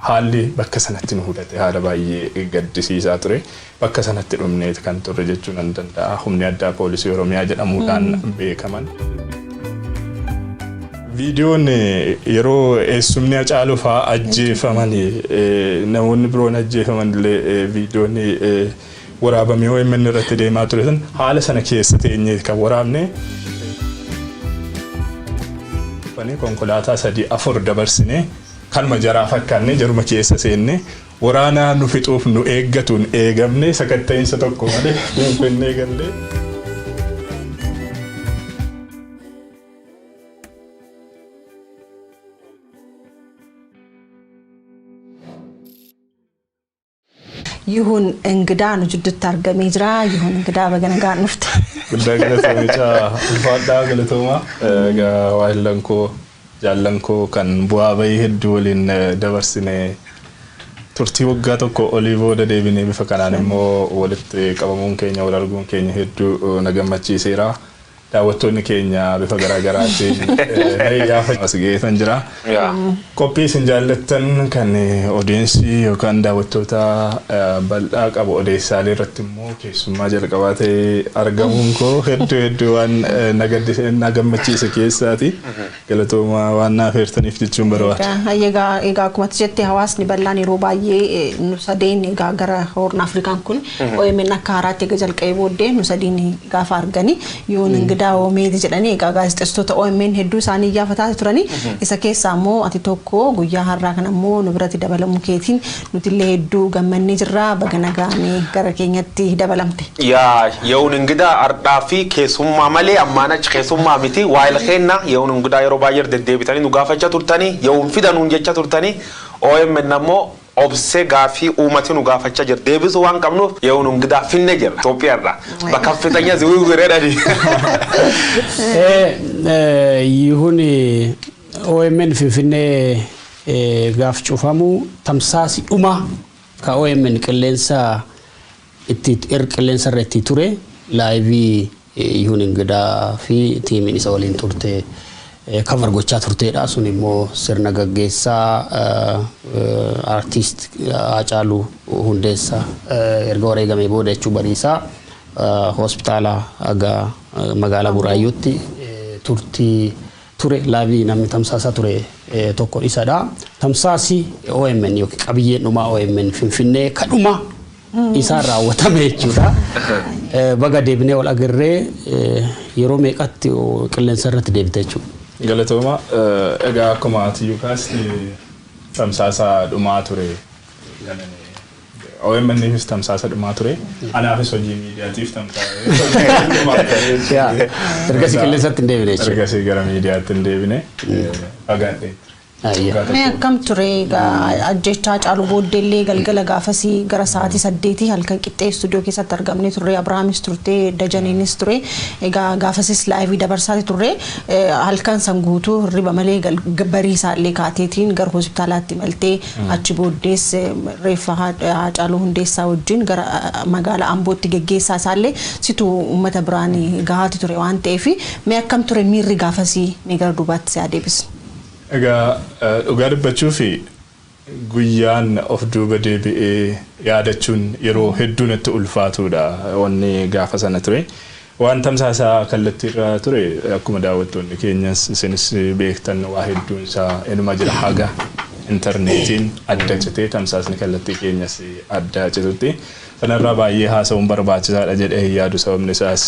Haalli bakka sanatti nu mudate haala baay'ee gaddisiisaa ture. Bakka sanatti dhumneet kan turre jechuu nan danda'a. Humni Addaa Poolisii Oromiyaa jedhamuudhaan beekaman. Viidiyoon yeroo eessumni Hacaaluu fa'aa ajjeefaman namoonni biroon ajjeefaman illee viidiyoon waraabamee OMN irratti deemaa ture sun haala sana keessa teenyee kan waraabne. Konkolaataa sadii afur dabarsinee Kanuma jaraa fakkaannee jaruma keessa seennee waraana nu fixuuf nu eeggatuun eegamnee sakatta'iinsa tokko malee Finfinnee galle. Yihun Ingidaa nu jidduutti argamee jira. Yihun Ingidaa baga nagaan dhufte. Guddaa galatoomi caa ulfaadhaa galatooma. Egaa waahillan koo jaallan koo kan bu'aa bahii hedduu waliin dabarsine turtii waggaa tokko olii booda deebinee bifa kanaan immoo walitti qabamuun keenya wal arguun keenya hedduu na gammachiiseera. Daawwattoonni keenya bifa garaa garaatiin na iyyaafa as ga'eetan jira. Qophii isin jaallattan kan odeensii yookaan daawwattoota bal'aa qabu odeessaalee irratti immoo keessummaa jalqabaa ta'ee argamuun koo hedduu hedduu waan na gaddise na gammachiise keessaati. Galatooma waan na afeertaniif jechuun barbaada. Hayyee egaa egaa akkuma ati jette hawaasni bal'aan yeroo baay'ee eh, nu sadeen egaa gara Horn Afrikaan kun OMN akka haaraatti egaa jalqabee booddee nu sadiin gaafa argani yoon ingidaa oomeeti jedhanii egaa gaazexeessitoota OMN hedduu isaanii iyyaafataa turani isa keessaa immoo ati tokko guyyaa har'aa kana immoo nu biratti dabalamuu keetiin Nutillee hedduu gammannee jirra baga nagaan gara keenyatti dabalamte. Yaa yawun ingidaa ardhaa fi keesummaa malee ammaan achi keesummaa miti waayil keenna yawun ingidaa yeroo baayyer deddeebitanii nu gaafacha turtanii yawun fida nuun jecha turtanii omn ammoo obse gaafii uumati nu gaafacha jir deebisu waan qabnuuf yawun ingidaa finne jirra Ethiopia irraa bakka fixanya ziwiwwir jedhani. Ee yihuni omn finfinnee gaaf cufamu tamsaasi dhumaa ka omn qilleensa itti er qilleensa irra itti ture laayivii yuun ingidaa fi tiimiin isa waliin turte kavar gochaa turteedha sun immoo sirna gaggeessaa artiist Haacaaluu Hundeessa erga wareegamee booda jechuu bariisaa hospitaala aga magaalaa Buraayyuutti turtii ture live namni tamsaasaa ture tokko isadha. Tamsaasi OMN yookiin qabiyyeen dhumaa OMN Finfinnee kadhuma isaan raawwatame jechuudha. Baga deebinee wal agarree yeroo meeqatti qilleensa irratti deebite jechuudha. Galatooma egaa akkuma ati Yukaas tamsaasaa dhumaa ture. OMN'fis tamsaasa dhumaa ture. Anaafis hojii miidiyaatiif tamsaasa. Ergasii qilleensatti hin deebine jechuudha. Ergasii gara miidiyaatti hin deebine. Fagaadhee ture. Mee akkam ture ajjechaa caalu booddeellee galgala gaafasii gara sa'aatii saddeetii halkan qixxee istuudiyoo keessatti argamne turre Abrahaamis turte Dajaniinis ture egaa gaafasis laayivii dabarsaati turre halkan san guutuu hirriba malee bariisaallee kaateetiin gara hospitaalaatti maltee Achi booddees reeffa Haacaaluu Hundeessaa wajjin gara magaala Ambootti geggeessaa isaallee situ uummata biraan gahaati ture waan ta'eef mee akkam ture miirri gaafasii mee gara duubaatti si haa deebisnu. Egaa dhugaa dubbachuuf guyyaan of duuba deebi'ee yaadachuun yeroo hedduu natti ulfaatuudha wanni gaafa sana ture. Waan tamsaasa kallattiirra ture akkuma daawwattoonni keenyas isinis beektan waa hedduun isaa inuma jira haga interneetiin adda citee tamsaasni kallattii keenyas adda citutti. Sanarraa baay'ee haasa'uun barbaachisaadha jedhee hin yaadu sababni isaas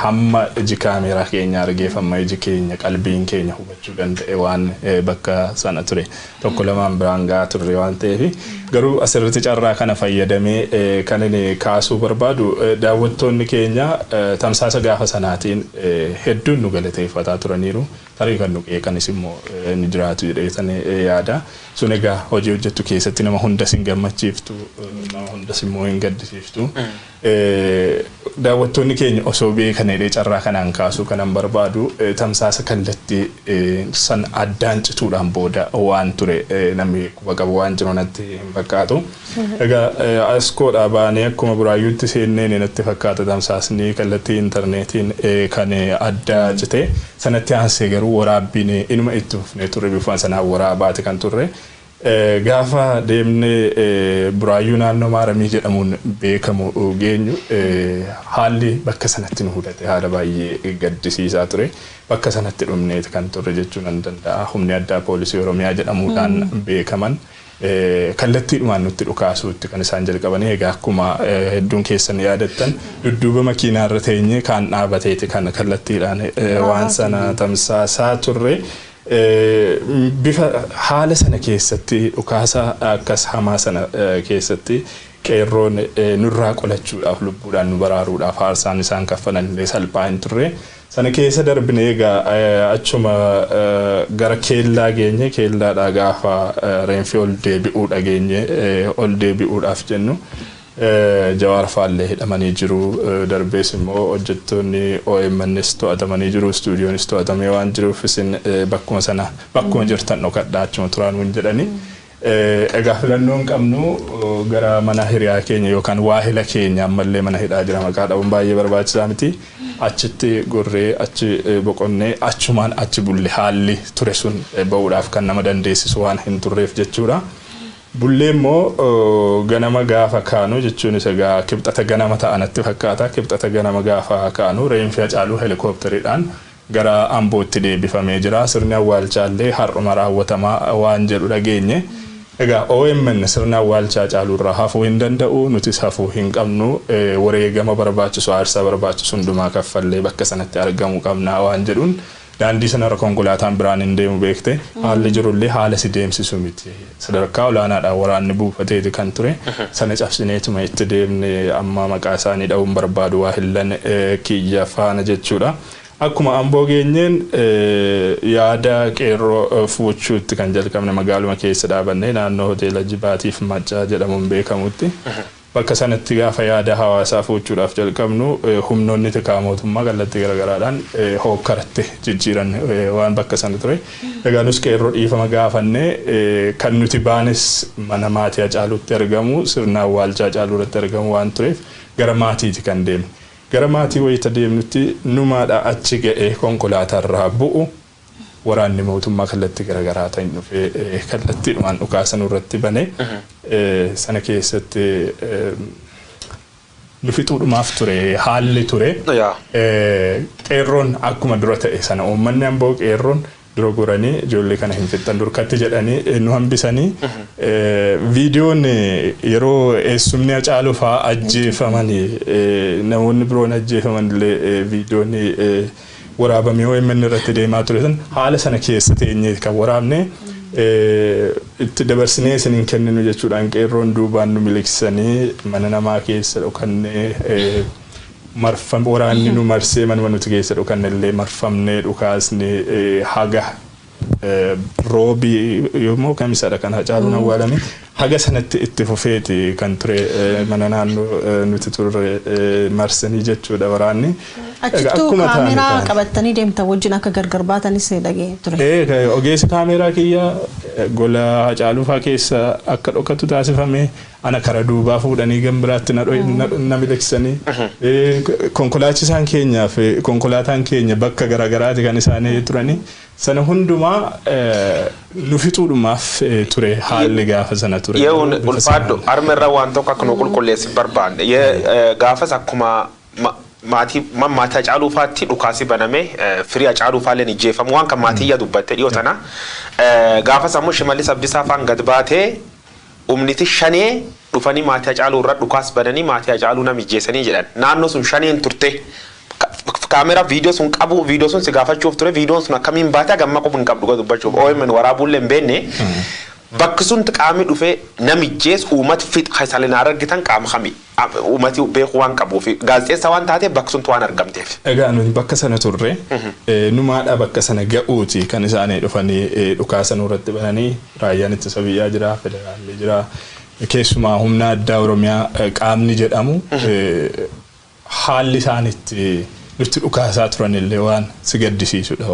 hamma iji kaameeraa keenya argeef hamma iji keenya qalbiin keenya hubachuu danda'e waan bakka sana ture tokko lamaan biraan ga'aa turre waan ta'eef garuu asirratti carraa kana fayyadamee kan inni kaasuu barbaadu daawwattoonni keenya tamsaasa gaafa sanaatiin hedduun nu galateeffataa turaniiru tarii kan nu qeeqanis immoo ni jiraatu jedheetan yaada sun egaa hojii hojjettu keessatti nama hundas hin gammachiiftu nama hundas immoo hin gaddisiiftu Daawwattoonni keenya osoo beekan jedhee carraa kanaan kaasuu kanan barbaadu tamsaasa kallattii san addaan cituudhaan booda waan ture namni quba qabu waan jiru natti hin fakkaatu. Egaa Askoodhaa baanee akkuma Buraayyuutti seenneen natti fakkaata tamsaasni kallattii intarneetiin kan adda cite. Sanatti aansee garuu waraabbiin inuma itti fufnee turre bifuma sanaan waraabaati kan turre. Gaafa deemnee Buraayyuu naannoo Maaramii jedhamuun beekamu geenyu haalli bakka sanatti nu mudate haala baay'ee gaddisiisaa ture. Bakka sanatti dhumneeti kan turre jechuu nan danda'a. Humni addaa poolisii Oromiyaa jedhamuudhaan beekaman kallattiidhumaan nutti dhukaasuutti kan isaan jalqabanii egaa akkuma hedduun keessan yaadattan dudduuba makiinaarra teenyee kaan dhaabateeti kan kallattiidhaan waan sana tamsaasaa turre. Bifa haala sana keessatti dhukaasa akkas hamaa sana keessatti qeerroon nurraa qolachuudhaaf lubbuudhaan nu baraaruudhaaf aarsaan isaan kaffalan illee salphaa hin turre. Sana keessa darbinee egaa achuma gara keellaa geenye keellaadhaa gaafa reenfi ol deebi'uu dhageenye ol deebi'uudhaaf jennu Jawaar faallee hidhamanii jiru. Darbees immoo hojjettoonni OMNs to'atamanii jiru. Istuudiyoonis to'atamee waan jiruuf isin bakkuma sana bakkuma jirtan dhokadhaa achuma turaa nuun jedhani. Egaa filannoo hin qabnu gara mana hiriyaa keenya yookaan waahila keenya ammallee mana hidhaa jira maqaa dhabuun baay'ee barbaachisaa miti. Achitti gorree achi boqonnee achumaan achi bulle haalli ture sun ba'uudhaaf kan nama dandeessisu waan hin turreef jechuudha. Bullee immoo ganama gaafa kaanu jechuunis egaa Kibxata ganama ta'a natti fakkaata. Kibxata ganama gaafa kaanu reenfi Hacaaluu Helikoopteridhaan gara Ambootti deebifamee jira. Sirni awwaalchaallee har'uma raawwatama waan jedhu dhageenye. Egaa omn sirni awwaalcha Hacaaluurraa hafuu hin danda'u, nutis hafuu hin qabnu. Wareegama barbaachisu, aarsaa barbaachisu hundumaa kaffallee bakka sanatti argamuu qabna waan jedhuun, Daandii sanarra konkolaataan biraan hin deemu beekte. Haalli jirullee haala si deemsisu miti. Sadarkaa olaanaadhaan waraanni buufateeti kan ture. Sana cabsineetuma itti deemne. Amma maqaa isaanii dhahuu hin barbaadu waahillan kiyya faana jechuudha. Akkuma Amboo geenyeen yaada qeerroo fuuchuutti kan jalqabne magaaluma keessa dhaabannee naannoo hoteela Jibaatiif Maccaa jedhamuun beekamutti. Bakka sanatti gaafa yaada hawaasaa fuuchuudhaaf jalqabnu humnoonni tikaa mootummaa kallattii garagaraadhaan hookkaratti jijjiiran waan bakka sana ture. Egaa nus qeerroo dhiifama gaafanne kan nuti baanes mana maatii Hacaaluutti argamu sirna awwaalchaa Hacaaluu irratti argamu waan tureef gara maatiiti kan deemne. Gara maatii wayita deemnutti numaadha achi ga'ee konkolaataarraa bu'u. Waraanni mootummaa kallattii garaagaraatiin dhufee kallattiidhumaan dhukaasa nurratti bane. Sana keessatti nu fixuudhumaaf ture haalli ture. Qeerroon akkuma dura ta'e sana uummanni amboo qeerroon dura goranii ijoollee kana hin fixxan durkatti jedhanii nu hambisanii viidiyoon yeroo eessumni Hacaaluu fa'aa ajjeefaman namoonni biroon ajjeefaman illee viidiyoon waraabame omn irratti deemaa ture san haala sana keessa teenyee kan waraabne itti dabarsinee isin hin kenninu jechuudhaan qeerroon duubaan nu miliqsanii mana namaa keessa dhokannee marfam waraanni nu marsee manuma nuti keessa dhokanne illee marfamnee dhukaasni haga Roobi yoommoo kamisadha kan Hacaaluun awwaalame. Haga sanatti itti fufeeti kan ture mana naannoo nuti turre marsanii jechuudha waraanni. Achittuu kaameeraa qabattanii deemtan wajjin akka gargar baatanis dhaga'een ture. Ee ogeessi kaameeraa kiyya gola Hacaaluu faa keessa akka dhokatu taasifame. Ana kara duubaa fuudhanii gam biraatti na miliqsanii. Konkolaachisaan keenyaaf konkolaataan keenya bakka garaagaraati kan isaanii turanii. Sana hundumaa nu fixuudhumaaf ture haalli gaafa sana ture. Yehuun ulfaadhu arma irra waan tokko akka nu qulqulleessi barbaanne. Gaafas akkuma maatii maatii Hacaaluu faatti dhukaasi baname firii Hacaaluu faalleen ijjeeffamu waan kan maatii iyya dubbatte dhiyoo tana. Gaafas ammoo Shimallis Abdisaa faan gad baatee Humniti Shanee dhufanii maatii Hacaaluu irra dhukaas bananii maatii Hacaaluu nam ijjeesanii jedhan. Naannoo sun Shaneen turte. Camera video sun qabu video sun si gaafachuuf ture videon sun akkamiin baate haga ammaa quba hin qabdu dhuga dubbachuuf omn waraabuu illee hin beenne bakki sunti qaami dhufe nam ijjees uumat fix keessan hin argitan qaama kami? Uumati beekuu waan qabuufi. Gaazexeessaa waan taateef bakka suntti waan argamteef. Egaa nuti bakka sana turre. Numaadha bakka sana ga'uuti kan isaani dhufanii dhukaasa nurratti bananii. Raayyaan Ittisa Biyyaa jira, Federaalli jira. Keessumaa Humna Addaa Oromiyaa qaamni jedhamu haalli isaan itti nutti dhukaasaa turanillee waan si gaddisiisudha.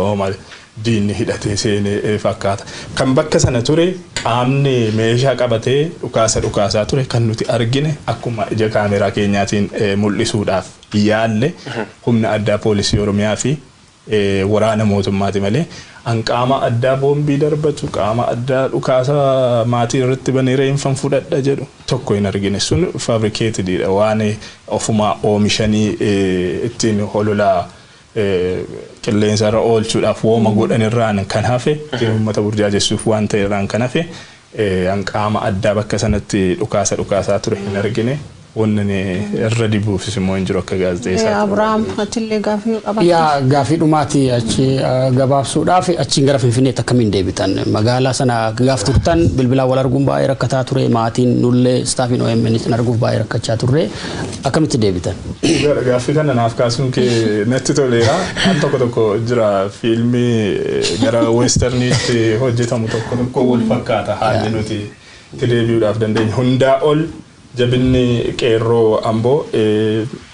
diinni hidhatee seene fakkaata. Kan bakka sana ture qaamni meeshaa qabatee dhukaasa dhukaasaa ture kan nuti argine akkuma ija kaameeraa keenyaatiin mul'isuudhaaf yaalle humna addaa poolisii Oromiyaa fi waraana mootummaati malee an qaama addaa boombii darbatu, qaama addaa dhukaasa maatii irratti banee reenfan fudhadha jedhu tokko hin argine. Sun fabricated dha waan ofumaa oomishanii ittiin holola qilleensa irra oolchuudhaaf wooma godhan irraan kan hafe uummata burjaajessuuf waan ta'e irraan kan hafe an qaama addaa bakka sanatti dhukaasa dhukaasaa ture hin argine wanni ani irra dibuufis immoo hin jiru akka gaazexeessaatti. Abiraam atillee gaafii yoo qabaattu. Yaa gaafii dhumaati achi gabaabsuudhaaf achiin gara Finfinneetti akkamiin deebitan magaalaa sana gaaf turtan bilbilaan wal arguun baay'ee rakkataa ture maatiin nullee istaafiin OMN sin arguuf baay'ee rakkachaa turre. akkamitti deebitan? Dhugaadha gaaffii kana naaf kaasuun kee natti toleera. An tokko tokko jira fiilmii gara westerniitti hojjetamu tokko tokko wal fakkaata haalli nuti itti deebi'uudhaaf dandeenyu. Hundaa ol jabinni qeerroo amboo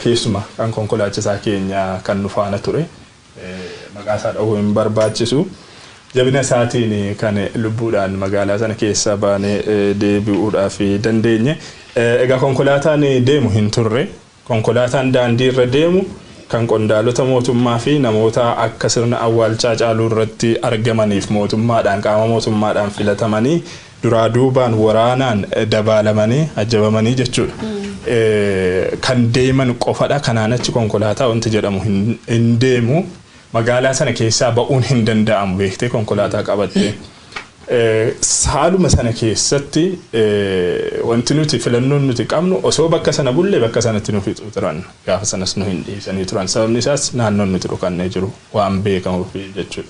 keessuma kan konkolaachisaa keenya kan nu faana ture maqaa isaa dhahuu hin barbaachisu, jabina isaatiin kan lubbuudhaan magaalaa sana keessaa baanee deebi'uudhaaf dandeenye. Egaa konkolaataan deemu hin turre. Konkolaataan daandii irra deemu kan qondaalota mootummaa fi namoota akka sirna awwaalchaa Hacaaluu irratti argamaniif mootummaadhaan, qaama mootummaadhaan filatamanii, duraa duubaan waraanaan dabaalamanii, ajjabamanii jechuudha, kan deeman qofadha. Kanaan achi konkolaataa wanti jedhamu hin deemu. Magaalaa sana keessaa ba'uun hin danda'amu beektee konkolaataa qabattee. Haaluma sana keessatti wanti nuti filannoon nuti qabnu osoo bakka sana bulle bakka sanatti nu fixu turan. Gaafa sanas nu hin dhiisanii turan. Sababni isaas naannoon nuti dhokannee jiru waan beekamuuf jechuudha.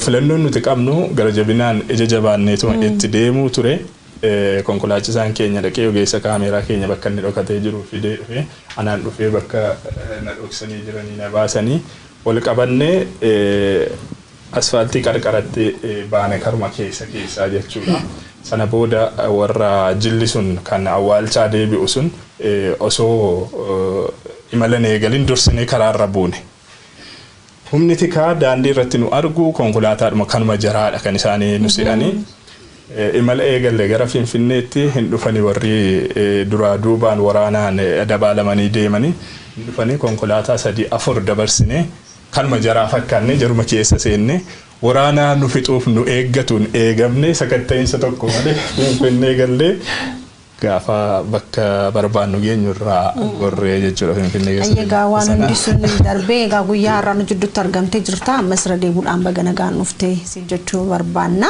Filannoon nuti qabnu gara jabinaan ija jabaanneetuma itti deemuu ture. Konkolaachisaan keenya dhaqee ogeessa kaameeraa keenya bakka inni dhokatee jiru fidee dhufe. Anaan dhufee bakka na dhoksanii jiranii na baasanii ol qabannee asfaaltii qarqaratti baane karuma keessa keessaa jechuudha. Sana booda warra jilli sun kan awwaalchaa deebi'u sun osoo imala hin eegalin dursinee karaarra buune. Humni tikaa daandii irratti nu argu konkolaataadhuma kanuma jaraadha kan isaani nu se'ani. Imala eegalle gara Finfinneetti hin dhufani warri duraa duubaan waraanaan dabaalamanii deemani. Hin dhufani konkolaataa sadii afur dabarsine kanuma jaraa fakkaanne jaruma keessa seenne waraana nu fixuuf nu eeggatuun eegamne sakatta'iinsa tokko malee Finfinnee galle. Gaafa bakka barbaannu geenyu irraa gorree jechuudha Finfinnee keessa Ayyee egaa waan sana. hundi sun darbee egaa guyyaa har'aa nu jidduutti argamtee jirta ammas irra deebuudhaan baga nagaan dhufte siin jechuu barbaanna.